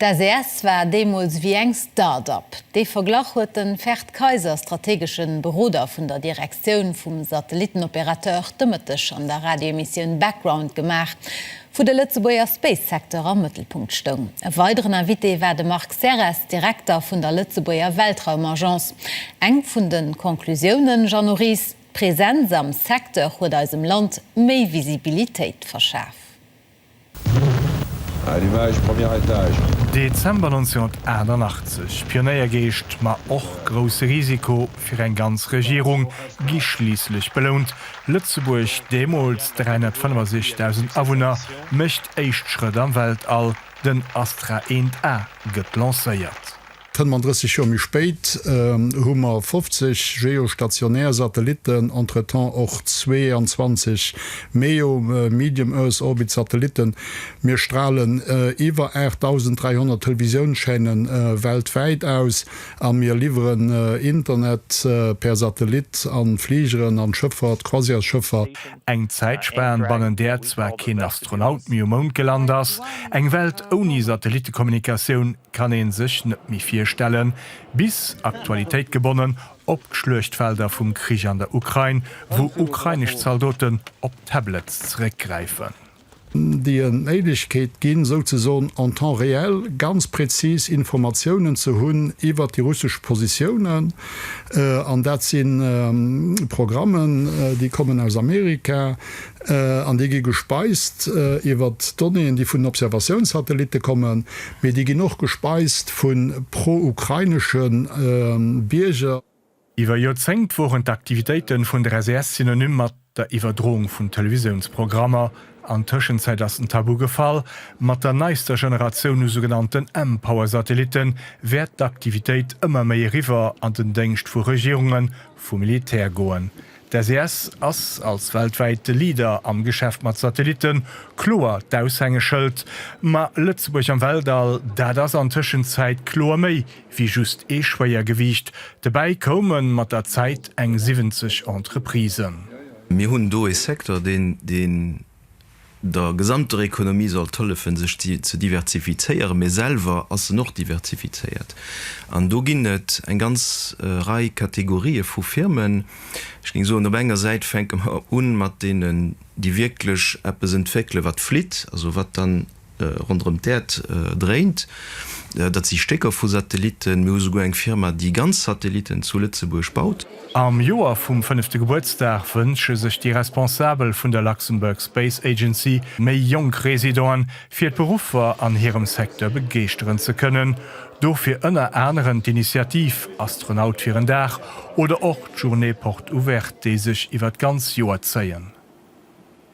D'SES war deemools wéi eng Start-up. Dee Verglach huet de Ferd Kayser, strategesche Beroder vun der Direktioun vum Satellittenopérateur, de Mëtteg an der Radioemissioun Background gemaach, wou de Lëtzebuerger Space-Secteur am Mëttelpunkt stoung. E weideren Invité war de Marc Serres, Direkter vun der Lëtzebuerger Weltraumagence. Eng vun de Conclusiounen, Jeannot Ries, D'Presenz am Secteur huet eisem Land méi Visibilitéit verschaf. Dezember 1988, Pionéiergeescht, ma och grousse Risiko fir eng ganz Regierung gi schliisslech belount, Lëtzebuerg, deemools 365.000 Awunner, mécht éischt Schrëtt am Weltall, den Astra 1A gëtt lancéiert. Kënne mer 30 Joer méi spéit, hu mer 50 geostationär Satellitten, entretemps och 22 MEO, Medium Earth Orbit, Satellitten. Mir stralen iwwer 8.300 Televisiounschaînen weltwäit aus a mir liwweren Internet per Satellit an Fligeren, an Schëffert, Croisièresschëffer. Eng Zäitspan, bannen där zwar keen Astronaut méi um Mound gelant ass, eng Welt ouni Satellittekommunikatioun, kann een sech net méi virstellen, bis Aktualitéit gebonnen op d'Schluechtfelder vum Krich an der Ukrain, wou ukrainesch Zaldoten op Tablets zeréckgräifen. déi en d'Méiglechkeet ginn, souzesoen en temps réel ganz präzis Informatiounen ze hunn iwwert déi russesch Positiounen. An dat si Programmen, déi kommen aus Amerika, An déi gi gespeist iwwer Donnéeën, déi vun den Observatiounssatellitte kommen, mee déi ginn och gespeist vu pro-ukrainesche Bierger. Iwwer Joerzéngt woren d'Aktivitéite vun der SAS synonym mat der Iwwerdroung vun Televisiounsprogrammer. An Tëschenzäit ass den Tabu gefall. Mat der neister Generatioun u sougenannten M-Power-Satellitte wäert d'Aktivitéit ëmmer méi eriwwer an den Déngscht vu Regierungen, vum Militär goen. D'SES ass als weltwäite Leader am Geschäft mat Satellitten kloer d'Aushängeschëld. Ma Lëtzebuerg am Weltall, dat ass an Tëschenzäit kloer méi wéi just ee Schwéiergewiicht. Dobäi koume mat der Zäit eng 70 Entreprisen. Mir hunn do ee Secteur, deen der gesamter Ekonomie sollt hëllefen, sech ze diversifizéieren, mee selwer ass en och diversifizéiert. An do ginn et eng ganz Rei Kategorië vu Firmen. Ech géing soen, op enger Säit fänke mer u mat deenen, déi wierklech eppes entwéckelen, wat flitt, also wat dann ronderëm d'Äerd dréint. Dat si Stécker vu Satellitten. Mir hu souguer eng Firma, déi ganz Satellitten zu Lëtzebuerg baut. Am Joer vum fënnefte Gebuertsdag wënsche sech déi Responsabel vun der Luxembourg Space Agency, méi jonk Residenten fir d'Beruffer an hirem Secteur begeeschteren ze kënnen. Dofir ënner anerem d'Initiativ Astronaut fir en Dag oder och d'Journée Porte Ouverte, déi sech iwwer d'ganz Joer zéien.